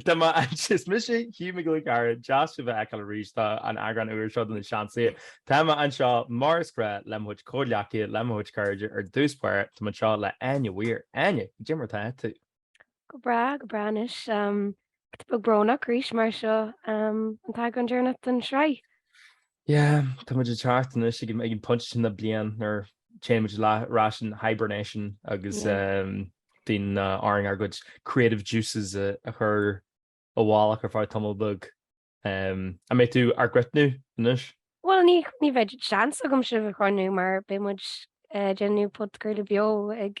Tá mé ansin, is mise Hugh Mac Giolla Chearra, deas sibh a fheiceáil arís, tá an eagrán úr seo de na Seansálaithe, tá mé anseo mar is gnách le mo chuid comhghleacaithe, le mo chuid cairde, ar dtús báire, tá mé anseo le Áine Weir. Áine, cad é mar atá tú? Go breá, go breá anois, giota beag brónach arís mar seo an t-eagrán deireanach den sraith. Yeah, tá muid ag teacht anois ag an phointe sin na bliana nuair téann muid ar ais in hibernation agus bíonn orainn ár gcuid creative juices a chur i bhfolach ar feadh tamall beag. An mbeidh tú ár gcrothnú anois? Bhuel, ní bheidh seans agam sibh a chrothnú mar beidh muid ag déanamh podchraoladh beo ag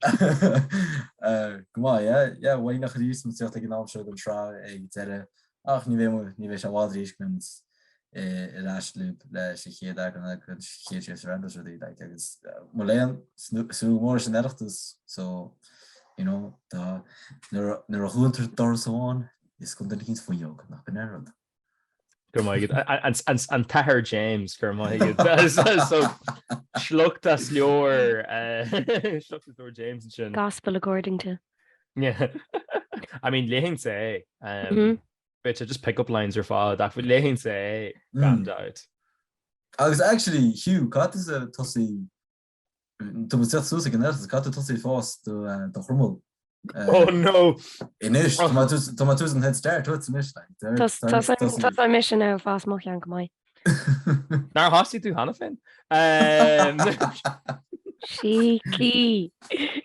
Go maith, yeah, yeah, bhain a chuid dhiúsmaíocht ag an am seo den tsraith ag deireadh ach ní bheidh muid, ní bheidh sé i bhfad arís go mbeidh muid ar ais libh leis an chéad eagrán ag an chéad séasúr agus rudaí, like, agus mo léan, súil mhór leis an Oireachtas, so, you know, tá, nuair a dhúntar doras amháin, osclaíonn duine éicint fuinneog, nach b'in an rud. An tAthair James go raibh maith agat. Sliocht as leabhar James ansin. Gospel according to. I mean léifinnse é. Bit just pick up lines ar fad ach léifinnse é gan dabht. Agus actually Hugh, caithfidh tusa tosú Tá muid ag teacht suas ag an Oireachtas, caithfidh tú tosú ag fás do chroiméal? Oh no! Anois, tá muid suas an head start uait anois. Tá mise in ann fás mo cheann go maith. Nár thosaigh tú cheana féin? Cheeky!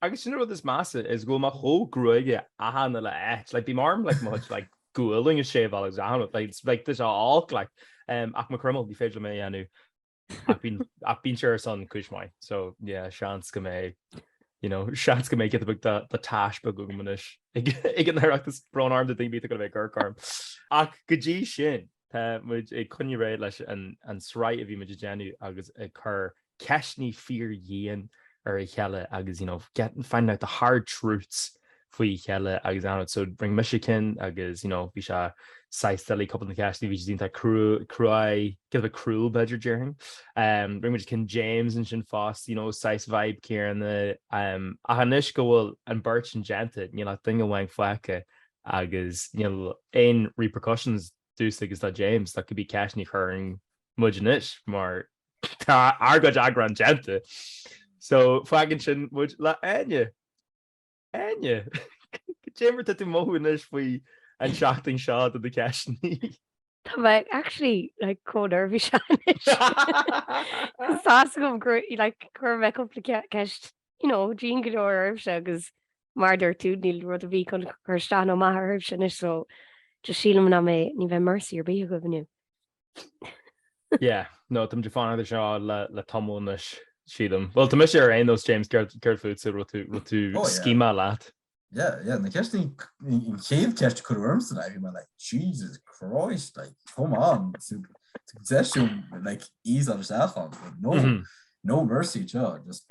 Agus sin an rud is measa, is go bhfuil mé chomh gruagach achan uile áit, like bím orm like mo chuid like gualainn a shaveáil agus achan rud, like like tá sé olc like, em, ach mo chroiméal, ní féidir liom é a dhéanamh ach bíonn, ach bíonn sé ar son cúis maith, so yeah, seans go mbeidh, you know, seans go mbeidh giota beag de de tache beag agam anois ag ag an Oireachtas, brón orm do dhuine ar bith atá ag gabháil a bheith ag amharc orm. Ach go dtí sin, tá muid ag coinneáil ar aghaidh leis an an sraith a bhí muid ag déanamh agus ag cur ceisteanna fíordhian ar a chéile agus you know getting, finding out the hard truths faoi a chéile agus I don't know, so rinne mise ceann agus you know bhí sé saghas silly cúpla de na ceisteanna, bhí siad iontach cruaidh, giota cruel b'fhéidir déarfainn. Rinne muid ceann James ansin fosta, you know saghas vibe céanna ach anois go bhfuil an beart sin déanta níl ach duine amháin fágtha agus níl aon repercussions domhsa agus do James, do cibé ceisteanna a chuireann muid anois mar tá ár gcuid eagrán déanta. So, fágann sin muid le Áine. Áine, cad é mar atá tú ag mothú anois faoi an seachtain seo do na ceisteanna. Tá mé actually like chomh neirbhíseach anois. Tá a fhios agam gur like chuir mé cúpla ceist you know, dian go leor oraibhse agus Mar a dúirt tú, níl rud ar bith chun cur isteach nó amach oraibhse anois so just sílim nach mbeidh, ní bheidh mercy ar bith agaibh inniu. Yeah, no, táimid ag fanacht air seo le tamall anois, sílim. Bhuel, tá mise ar aon nós, James, céard fútsa, an raibh tú ag scéimeáil leat? Yeah, yeah, na ceisteanna, an chéad ceist a cuireadh ormsa ná bhí mé like Jesus Christ, like come on, tabhair deis dom like ease on isteach ann, no, no mercy anseo, just.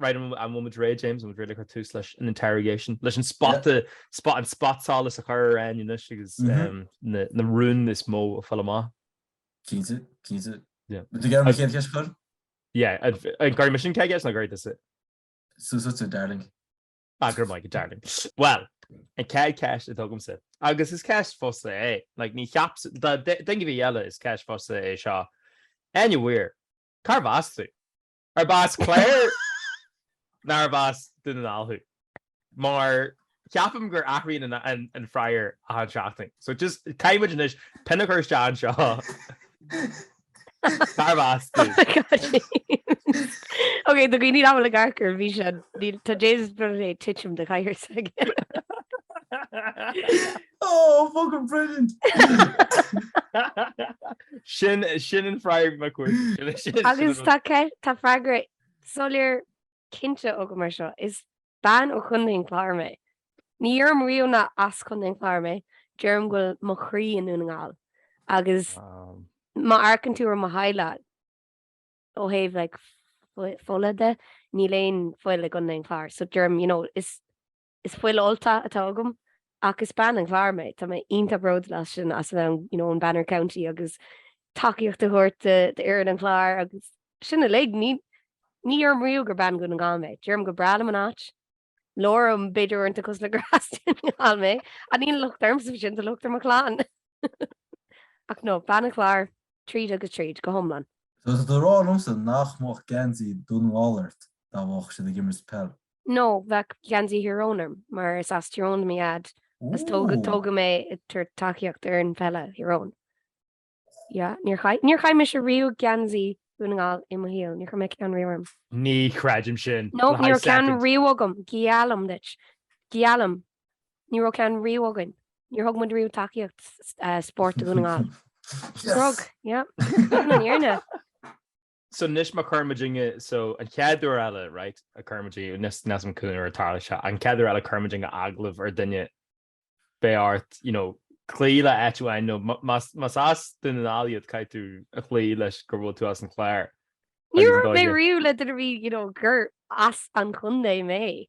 Right, an bhfuil muid réidh, James? An bhfuil muid réidh le cur tús leis an interrogation, leis an spot, an spotsolas a chur ar Áine anois agus na rúin is mó a fháil amach? Cinnte, cinnte. Yeah. Tú ag iarraidh an chéad cheist a chur? Yeah, an gcuirfidh mise an chéad cheist nó an gcuirfidh tusa? Suas duitse, darling. Ah, go raibh maith agat, darling. Bhuel, an chéad ceist atá agamsa, agus is ceist fosta é, like, ní cheap, d'fhonn go bhí eile is ceist fosta é seo, Áine Mhuire, cárb as tú? Arb as an Chlár nó arb as Dún na nGall thú? Mar ceapaim gur athraíonn an freagra achan seachtain. So just caithfidh muid anois pin a chur isteach anseo. Cárb as tú? Ok, do dhaoine nach bhfuil ag amharc ar an bhfíseán, tá James beagnach ag titim den chathaoir s'aige. Oh, fucking brilliant! Sin sin an freagra na cuairte. Agus tá tá freagra soiléir cinnte agam mar seo. Is bean ó Chontae an Chláir mé. Ní abraim riamh nach as Contae an Chláir mé, deirim go bhfuil mo chroí i nDún na nGall agus má amharcann tú ar mo theaghlach ó thaobh like fola de, níl aon fhuil i gContae an Chláir so deirim you know is Is fuil Ultach atá agam ach is bean an Chláir mé. Tá mé iontach bródúil as sin, as an am, you know, an Banner County agus tacaíocht a thabhairt d'fhoireann an Chláir agus sin uilig. Ní, ní abraim riamh gur bean Dhún na nGall mé. Deirim gur breá liom an áit, labhraim b'fhéidir uaireanta cosúil le gur as Dún na nGall mé. Ach níl an locht ormsa faoi sin, tá an locht ar mo chlann. Ach no, bean an Chláir tríd agus tríd, go hiomlán. So tá tú ag rá liomsa nach mbeadh geansaí Dún na nGall ort dá mbeadh siad ag imirt peil. No, bheadh geansaí Thír Eoghain orm, mar is as Tír Eoghain do mo dhaid, agus tógadh mé ag tabhairt tacaíocht ar an pheil do Thír Eoghain. Yeah, níor chaith, níor chaith mise riamh geansaí Dhún na nGall i mo shaol, níor chaith mé ceann riamh orm. Ní chreidim sin. No, ní raibh ceann riamh agam, geallaim duit, geallaim, ní raibh ceann riamh againn, níor thug muid riamh tacaíocht spóirt do Dhún na nGall. Nár thug, yeah, sin an fhírinne. So anois má chuir muidinne, so an chéad uair eile, right, a chuir muidinne, níl a fhios, níl a fhios agam cén uair a tharlóidh seo, an chéad uair eile a chuir muidinne agallamh ar duine, beidh ort, you know, cloí le áit amháin, nó má, más, más as Dún na nGall iad caithfidh tú a chloí leis gur bhfuil tú as an Chlár. Níor dhúirt mé riamh le duine ar bith, you know, gur as an chontae mé.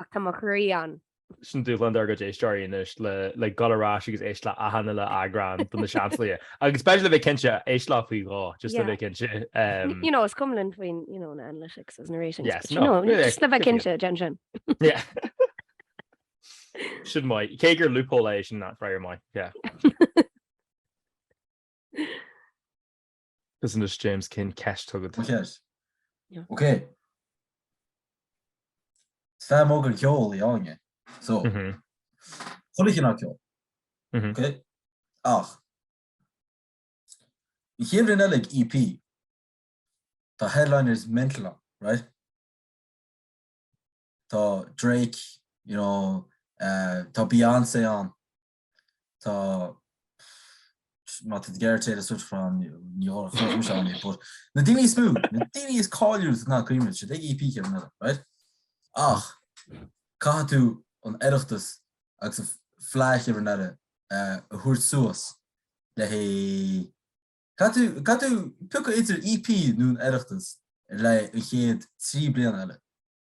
Ach tá mo chroí ann. Sin dúshlán dár gcuid éisteoirí anois, le dhul ar ais agus éisteacht le achan uile eagrán de na seanscéalta. Agus b'fhéidir le bheith cinnte, éist leo faoi dhó, just le bheith cinnte. You know, is cuma linn faoin, you know, na analytics is na ratings. Yes, no. But, you know, just le bheith cinnte, déan sin. Yeah. Sin mai. Cé gur loophole é sin, that's right, mai. Yeah. Agus anois James tá ceist agat? Mo cheist? Ok. Is fan mór den cheol í Áine. So, chuile chineál ceoil. Ok? Ach, an chéad bhliain eile ag EP, tá headliners mental ann, right? Tá Drake, you know, tá Beyoncé ann, tá má tú gearr téad a suit chrán New York but na daoine is mó, na daoine is cáiliúla is atá tú ag cuimhneamh beidh siad ag EP an chéad bhliain eile right? Ach caithfidh tú an Oireachtas agus an fleadh an chéad bhliain eile a thabhairt suas le hé caithfidh tú caithfidh tú piocadh idir EP nó an Oireachtas ar feadh an chéad trí bliana eile.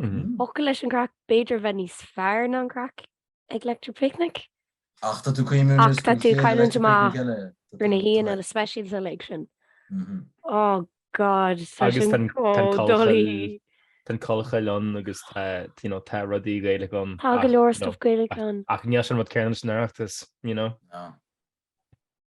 ócáid leis an gcraic, b'fhéidir a bheith níos fearr ná an craic ag Electric Picnic. Ach tá tú ag cailliúint Ach tá tú ag cailliúint amach ar na haíonna speisialta uilig sin. Oh God, tá sin chomh doiligh. Tá An Chollchoill ann agus tá, you know, tá rudaí Gaelacha ann. Tá go leor stuff Gaelach ann. Ach níl sé an rud céanna leis an Oireachtas, you know?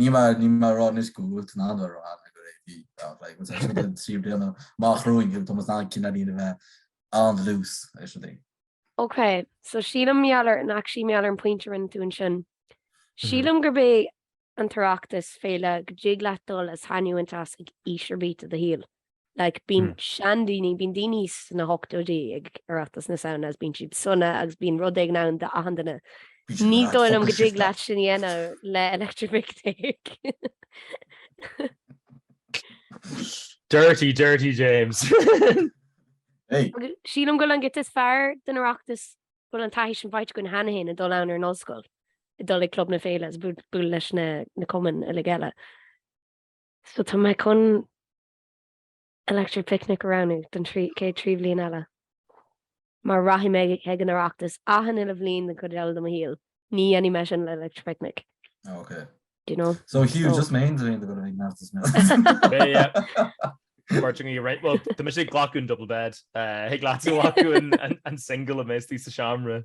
Níl mé níl mé a rá anois go bhfuil tú in ann a rá go EP ach like más actually na trí bliana amach romhainn tá muid in ann cineáilín a bheith an-dlús is rudaí. Ok, so sílim mar gheall ar and actually mar gheall ar an pointe a rinne tú ansin. Sílim gurb é an tOireachtas féile go dtig leat dul go seasmhach ag aois ar bith i do shaol. Like bíonn seandaoine, bíonn daoine sna hochtóidí ag Oireachtas na Samhna agus bíonn siad sona agus bíonn rud éigin ann d'achan duine. Ní dóigh liom go dtig leat sin a dhéanamh le Electric Picnic. Dirty, dirty James. Sílim go bhfuil an giota is fearr den Oireachtas, go bhfuil an taithí sin faighte againn cheana féin ag dul ann ar an ollscoil, ag dul ag Club na Féile agus ag bualadh leis na cumainn uilig eile. So tá mé chun Electric Picnic a roghnú don chéad trí bliana eile. Mar rachaidh mé ag an Oireachtas achan uile bhliain den chuid eile de mo shaol, ní dhéanfaidh mé sin le Electric Picnic. Oh ok. Do you know? So Hugh, just mé féin ag gabháil ag an Oireachtas. Yeah yeah. Beirt againn right. Bhuel, tá mise ag glacadh an double bed. Thig leat glacadh an single má bhíonn tú sa seomra.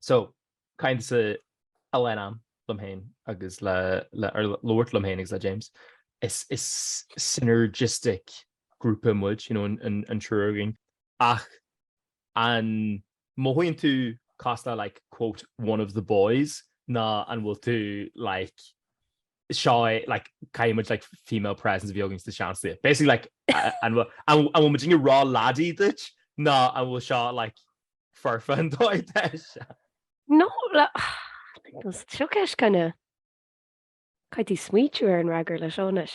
So, kind of a lean am liom féin agus le, or labhairt liom féin agus le James, is synergistic grúpa muid, you know, an triúr againn. Ach an mothaíonn tú cosúil le like, quote, one of the boys nó an bhfuil tú like, seo é like caithfidh muid like female presence a bheith againn sna Seansálaithe. Basically like an bhfuil an bhfuil muidne ró-laddy duit nó an bhfuil seo like foirfe an dóigh deis? No It's a trick question kind of. Caithfidh tú smaoitiú ar an fhreagra leis seo anois.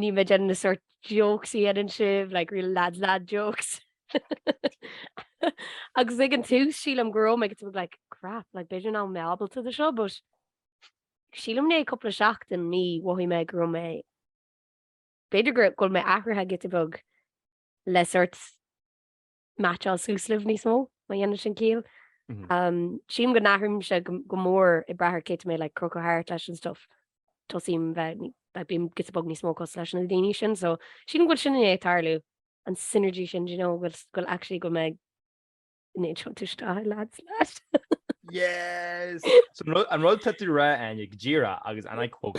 Níl mé ag déanamh an sort jokes a dhéanann sibh, like real lad lad jokes. Agus ag an tús sílim go raibh mé giota beag like crap, like b'fhéidir nach raibh mé ábalta do seo but sílim i ndiaidh cúpla seachtainí mhothaigh mé go raibh mé b'fhéidir go bhfuil mé athraithe giota beag le sort meaitseáil suas libh níos mó, má dhéanann sin ciall. Sílim go n-athraímse go mór ag brath ar cé atá mé like ag crochadh thart leis and stuff. Tosaím bheith, bím giota beag níos mó cosúil leis na daoine sin, so sílim go bhfuil sin i ndiaidh tarlú, an synergy sin, do you know, go bhfuil actually go bhfuil mé i ndiaidh tiontú isteach i lad's lad. Yes! An rud atá tú a rá, Áine, go díreach agus and I quote,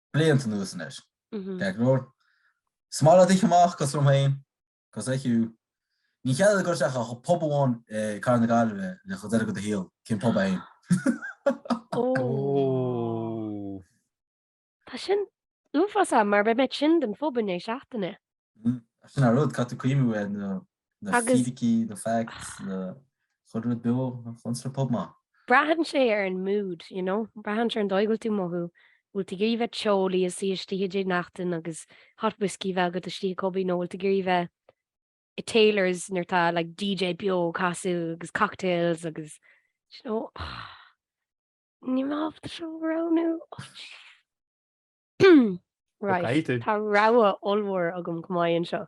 blianta anuas anois, ceart go leor is maith leat dul amach cosúil liom féin, cosúil le Hugh. Níl cead agat dul isteach ach pub amháin i gcathair na Gaillimhe go deireadh do shaoil, cén pub é féin? Tá sin uafásach mar beidh mé tinn den phub i ndiaidh seachtaine. Sin an rud, caithfidh tú cuimhniú ar na na fíricí, na facts, na chuid rud beo, na flunstra pub maith. Braitheann sé ar an mood, you know, braitheann sé ar an dóigh a bhfuil tú ag mothú, bhfuil tú ag iarraidh bheith teolaí is istigh i dTigh Neachtain agus hot whiskey bheith agat istigh i cubby nó bhfuil tú ag iarraidh bheith i Taylor's nuair atá like DJ beo ag casadh agus cocktails agus you know, níl mé ábalta seo a roghnú. Right, tá rogha ollmhór agam chomh maith anseo.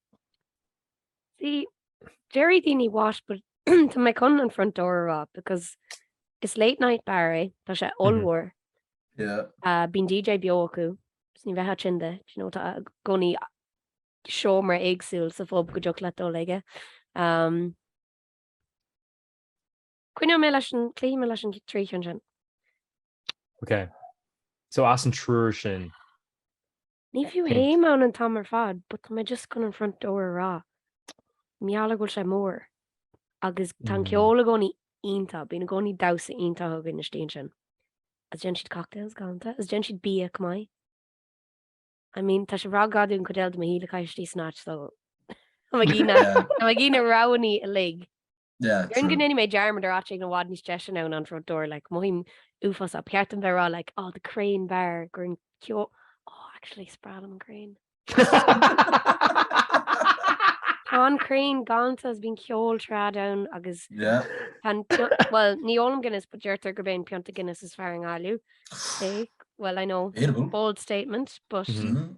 See, déarfaidh daoine what but tá mé chun an Front Door a rá because is late night bar é, tá sé mhm. ollmhór. Yeah. Uh, bíonn DJ beo acu, so ní bheifeá tinn de, you know, tá i gcónaí seomra éagsúil sa phub go dtiocfadh leat dul chuige. Um, Coinneoidh mé leis an cloífidh mé leis an trí sin. Ok. So as an triúr sin Ní fiú théim ann an t-am ar fad but tá mé just chun an Front Door a rá. Mar gheall go bhfuil sé mór. Agus tá an ceol i gcónaí iontach, bíonn i gcónaí damhsa iontach againn istigh ansin. Is déanann siad cocktails galanta, is déanann siad bia chomh maith. I mean, tá sé ag rá gur gá dom an chuid eile de mo shaol a chaitheamh istigh san áit so tá mé ag iarraidh na roghanna uilig. Yeah, orm go ndéanfaidh mé dearmad ar áit éigin i bhfad níos deise ná an Front Door, like, mothaím uafásach, ba cheart dom bheith ag rá, like, oh the Crane Bar, gur an ceo-, oh actually, is breá liom an Crane. Tá an Crane galánta is bíonn ceol trad ann agus Yeah. tá an pio- well, ní ólaim Guinness, but deirtear gurb é an pionta Guinness is fearr i nGaillimh. Okay, well, I know, bold statement, but Mhm. Mhm.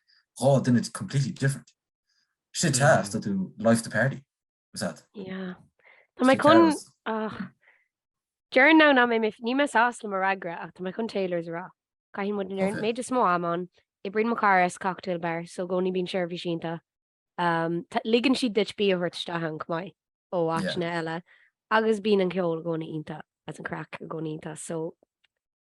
then it's completely different. Shit teas do tú life the party was at. Yeah. Tá mé chun ach Dear now níl mé níl mé sásta le mo fhreagra ach tá mé chun Taylor's a rá. Caitheann muid an méid is mó am ann. Oibríonn mo chara sa cocktail bar so i gcónaí bíonn seirbhís iontach. Ligeann siad duit bia a thabhairt isteach ann chomh maith ó áiteanna eile agus bíonn an ceol i gcónaí iontach is an craic i gcónaí iontach so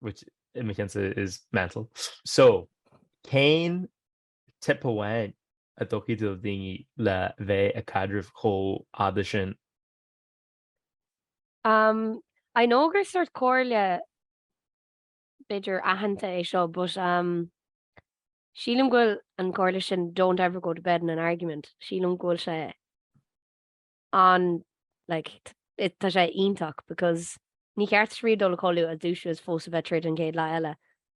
which i mo cheannsa is mental. So, cén tip amháin a dtugfá do dhaoine le bheith ag caidreamh chomh fhada sin? Um, I know gur sórt comhairle b'fhéidir aitheanta é seo, but um, sílim go bhfuil an comhairle sin don't ever go to bed in an argument, sílim go bhfuil sé an like tá sé iontach because ní cheart duit riamh dul a chodladh is dúisiú is fós a bheith ag troid an chéad lá eile.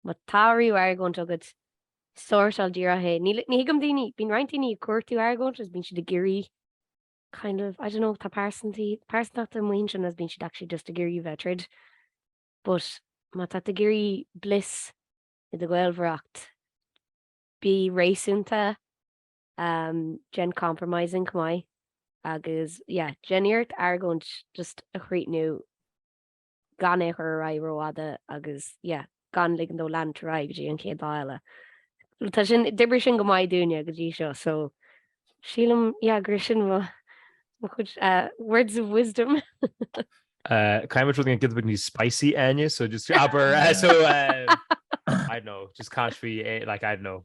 Má tá riamh argóint agat sórtáil díreach é. Ní ní thuigim daoine, bíonn roinnt daoine ag cuartú argóint is bíonn siad ag iarraidh kind of I don't know tá pearsant- pearsantachtaí mar sin is bíonn siad actually just ag iarraidh a bheith ag troid but má tá tú ag iarraidh bliss i do ghaolmhaireacht bí réasúnta Déan compromising chomh maith agus yeah, déan iarracht argóint just a chríochnú gan é a chur ar aghaidh rófhada agus yeah, gan ligean dó leanúint ar aghaidh go dtí an chéad lá eile. Tá sin, d'oibrigh sin go maith dúinne go dtí seo so sílim yeah, gur sin mo chuid eh, words of wisdom. Uh, kind of something that gets spicy, Áine. So just abair, uh, so um, I don't know, just can't be eh, like I don't know.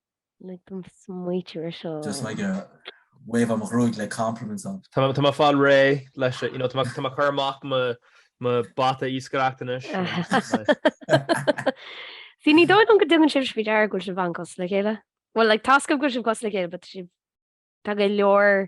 Lig dom smaoitiú air seo. Just like a wave am ghruaig le compliments on. Tá mé ag fáil réidh leis you know tá mé ag cur amach mo mo bata iascaireacht anois. See ní dóigh liom go dtugann sibh faoi deara go bhfuil sibh an-chosúil le chéile. Bhuel like tá a fhios agam go bhfuil sibh cosúil le chéile but see tá go leor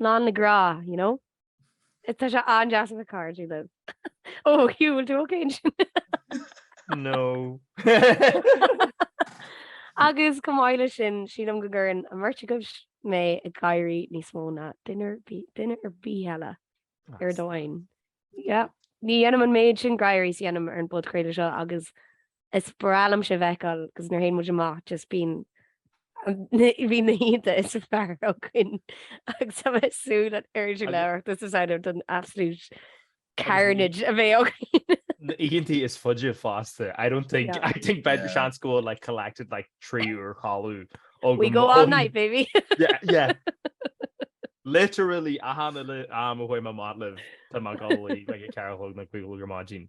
lán le grá, you know? Tá sé an-deas a bheith cairdiúil libh. Ó, Hugh, bhfuil tú ócé ansin? No. Agus chomh maith leis sin, sílim go gcuireann an bheirt agaibh mé ag gáirí níos mó ná duine ar bith eile ar domhain. Yep. Ní dhéanaim an méid sin gáirí is a dhéanaim ar an bpodchraoladh seo agus Is breá liom sibh a fheiceáil agus nuair théann muid amach just bíonn bíonn na hoícheanta is fearr againn agus tá mé ag súil an oiread sin le hOireachtas na Samhna don absolute carnage a bheidh againn. Na hoícheantaí is faide fosta. I don't think, I think beidh seans go bhfuil like collected like trí uair chodladh. We go all night, baby. Yeah, yeah. Literally, achan uile am a bhfuil mé amach libh, tá mé ag gabháil a luí, like a ceathair a chlog nó cúig a chlog ar maidin.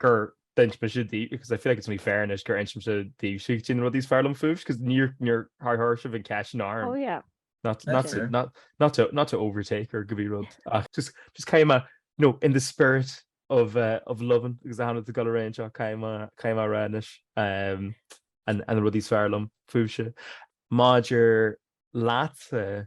gur d'inis mise daoibh, because I feel like it's only fair anois gur inis mise daoibhse cad é na rudaí is fearr liom fúibhse, because níor, níor chuir sibh an cheist sin orm. Oh yeah. Not, not, to, not, not, to, not to overtake or cibé rud ach just, just caithfidh mé, you know, in the spirit of, uh, of loving agus achan rud go léir anseo, caithfidh mé, caithfidh mé a rá anois um, an, na rudaí is fearr liom fúibhse. Maidir leatsa,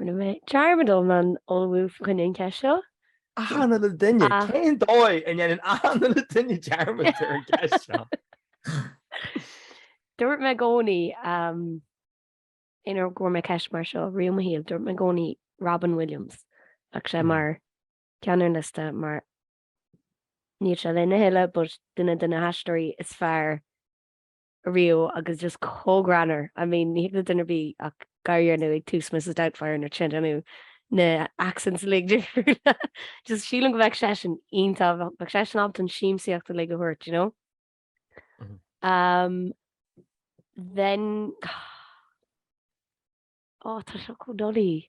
Rinne mé dearmad iomlán ullmhú fá choinne an cheist seo. Achan uile dhuine! Cén dóigh a ndéanann achan uile dhuine dearmad ar an gceist seo? Dúirt mé i gcónaí, aon uair go bhfuair mé ceist mar seo riamh i mo shaol, dúirt mé i gcónaí Robin Williams, bheadh sé mar cheann ar an liosta mar níl sé linn a thuilleadh but duine de na haisteoirí is fearr riamh agus just chomh greannmhar, I mean ní thig le duine ar bith ach gáire a dhéanamh ag tús Mrs Doubtfire nuair atá sé ag déanamh na accents uilig difriúla, just sílim go bheadh seisean iontach, bheadh seisean ábalta an siamsaíocht uilig a thabhairt, you know? Um, then oh, tá seo comh doiligh.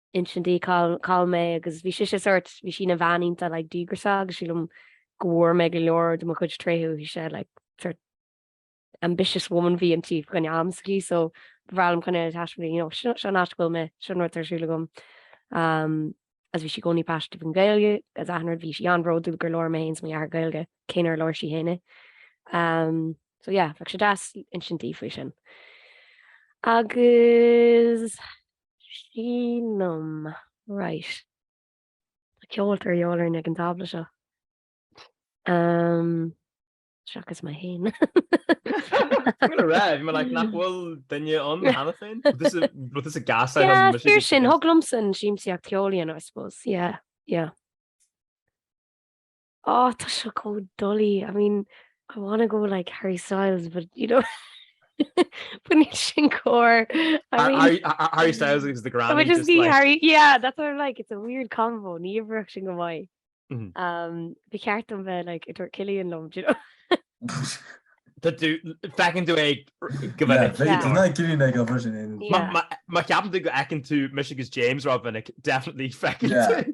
Insint di cá bhfuil mé agus bhí sise sort, bhí sí ina bhean iontach like díograiseach agus sílim go bhfuair mé go leor de mo chuid tréithe uaithi, bhí sí like sort ambitious woman a bhí inti don am s'aici so ba bhreá liom cineál taispeáint di you know seo an áit go bhfuil mé, seo an rud atá ar siúl agam um agus bhí sí i gcónaí paiseanta faoin Ghaeilge is achan rud bhí sí an-bhródúil gur labhair mé fhéin is mo dheartháir Gaeilge cé nár labhair sí fhéin é um so yeah bheadh sé deas insint di faoi sin. Agus. Sílim, right. Tá ceoltóir de dhíobháil orm ag an tábla seo. Um, Seachas mé féin raibh mé nach bhfuil duine ann cheana féin but is ach is fíor sin thig liomsa an siamsaíocht ceoil a dhéanamh I suppose, yeah, yeah. Oh tá seo comh doiligh, I mean I wanna go like Harry Styles but you know but níl sin cóir. I mean Harry Styles agus the granny. But just ní Harry yeah that's what I'm like it's a weird combo ní oibreodh sin go maith. Mhm. Um ba cheart domh bheith like ag tabhairt Cillian liom do you know. Feiceann tú é go minic. Ná gilín ag obair sin. Má cheapann tú go bhfeiceann tú mise agus James rómhinic definitely feiceann tú.